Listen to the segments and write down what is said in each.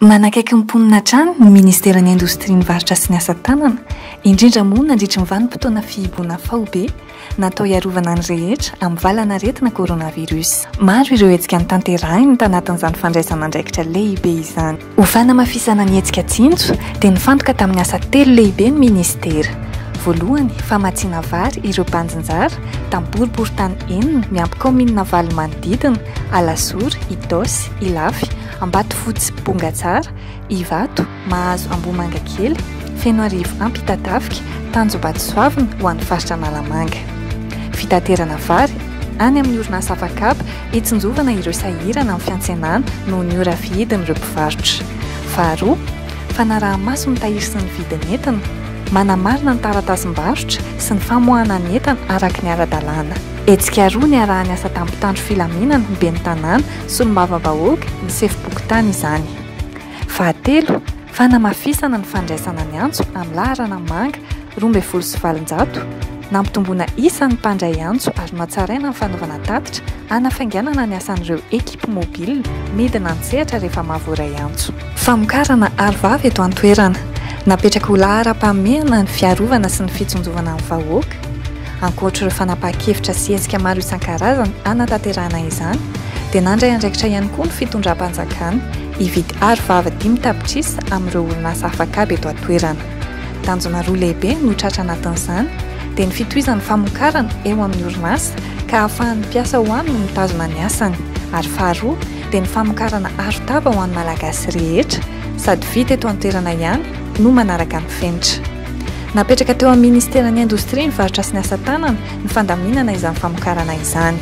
Manakaiky ny mponina hatrany ny Ministeran'ny Indostria ny Varotra sy ny Asa Tanana, indrindra moa nandritry ny vanim-potoana fihiboana faobe natao hiarovana ny rehetra amin'ny valan'aretina coronavirus. Maro ireo hetsika notanterahiny tanatin'izany fandraisana andraikitra lehibe izany. Ho fanamafisana ny hetsika Tsinjo dia nifantoka tamin'ny asa telo lehibe ny Ministera. Voalohany, famatsiana vary ireo banjinjara tamin'ny boriborintany enina miampy kaominina valo manodidina, Alazory, Itaosy, Ilafy, Ambatofotsy Bongatsara, Ivato, Mahazo Ambohimangakely, Fenoarivo Ampitatafika, Tanjombato Soavina ho an'ny faritra Analamanga. Fitaterana vary any amin'ny orinasa Afakab hitsinjovana ireo sahirana amin'ny fiantsenana noho ny ora fihidin'ireo mpivarotra. Faharoa, fanaraha-maso ny tahiry sy ny vidin'entana, manamarina ny taratasim-barotra sy ny famoahana ny entana araka ny ara-dalàna. Hetsika roa niaraha-niasa tampon-tandro filaminana ny ben'ny Tanàna solombavambahoaka ny sefom-pokontany izany. Fahatelo, fanamafisana ny fandraisana ny antso amin'ny laharana manga roa ambin'ny folo sy valonjato, nampitomboana isa ny mpandray antso ary nohatsaraina ny fanaovana tatitra hanafainganana ny asan'ireo ekipa mobile midina an-tsehatra rehefa mahavoaray antso. Famokarana arovava eto an-toerana, napetraka ho laharam-pahamehana ny fiarovana sy ny fitsinjovana ny vahoaka, Ankoatr'ireo fanapahan-kevitra sy hetsika maro isan-karazany hanatanterahana izany, dia nandray andraikitra ihany koa ny fitondram-panjakana hividy aro vava dimy tapitrisa amin'ireo orinasa afak'ady eto an-toerana. Tanjona roa lehibe no tratra anatin'izany, dia ny fitohizan'ny famokarana eo amin'ny orinasa ka ahafahan'ny mpiasa ao aminy mitazona ny asany, ary faharoa dia ny famokarana arotava ho an'ny Malagasy rehetra, sady vita eto an-toerana ihany no manaraka ny fenitra. Napetraka teo amin'ny Ministeran'ny Indostria, ny Varotra sy ny Asa Tanana ny fandaminana izany famokarana izany.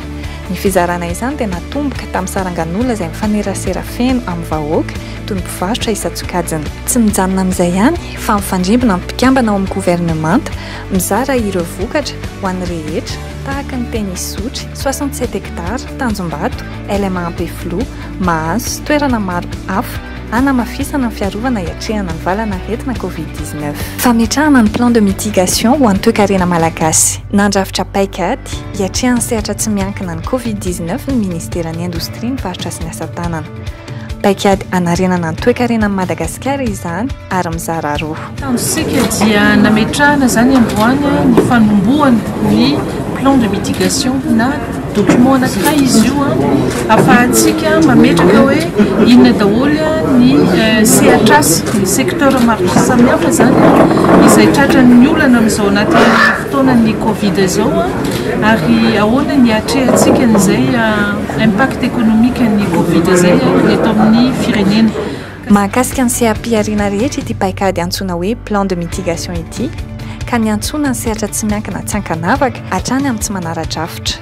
Ny fizarana izany dia natomboka tamin'ny sarangan'olona izay mifanerasera feno amin'ny vahoaka toy ny mpivarotra isan-tsokajiny. Tsy mijanona amin'izay ihany fa mifandrimbona amin'ny mpikambana ao amin'ny governemanta, mizara ireo vokatra ho an'ny rehetra, tahaka ny Tenisotry, soixante sept hectares, Tanjombato, LMA Ampefiloha, Mahazo sy toerana maro hafa hanamafisana ny fiarovana hiatrehana ny valan'aretina Covid dix neuf. Fametrahana ny plan de mitigation ho an'ny toekarena malagasy. Nandrafitra paikady hiatrehana ny sehatra tsy miankina ny Covid dix neuf ny Ministeran'ny Indostria, ny Varotra sy ny Asa Tanana. Paikady hanarenana ny toekarenan'i Madagasikara izany ary mizara roa. Tanjonsika dia nametrahana izany androany ny fanombohana ny plan de mitigation na document anankiray izy io afahantsika mametraka hoe inona daholo ny eh, sehatrasa ny secteur maro samihafa izany izay tratran'ny olana amin'izao anaty fotoanan'ny covid izao ary ahoana ny atrehantsika an'izay eh, impact économique ny covid izay eh, eto amin'ny firenena Mahakasika ny seha-pihariana rehetra ity paikady antsoina hoe Plan de mitigation ity ka niantsoana ny sehatra tsy miankina tsy ankanavaka hatrany amin'ny tsy manara-drafitra.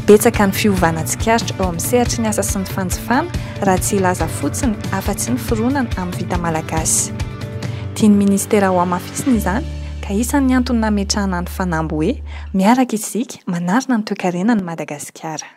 Betsaka ny fiovana tsikaritra eo amin'ny sehatry ny asa sy ny fanjifana raha tsy hilaza fotsiny afa-tsy ny fironana amin'ny vita malagasy. Tian'ny minisitera hohamafisina izany ka isan'ny antony nametrahana ny fanamby hoe Miaraka isika manarina ny toekarenan'i Madagasikara.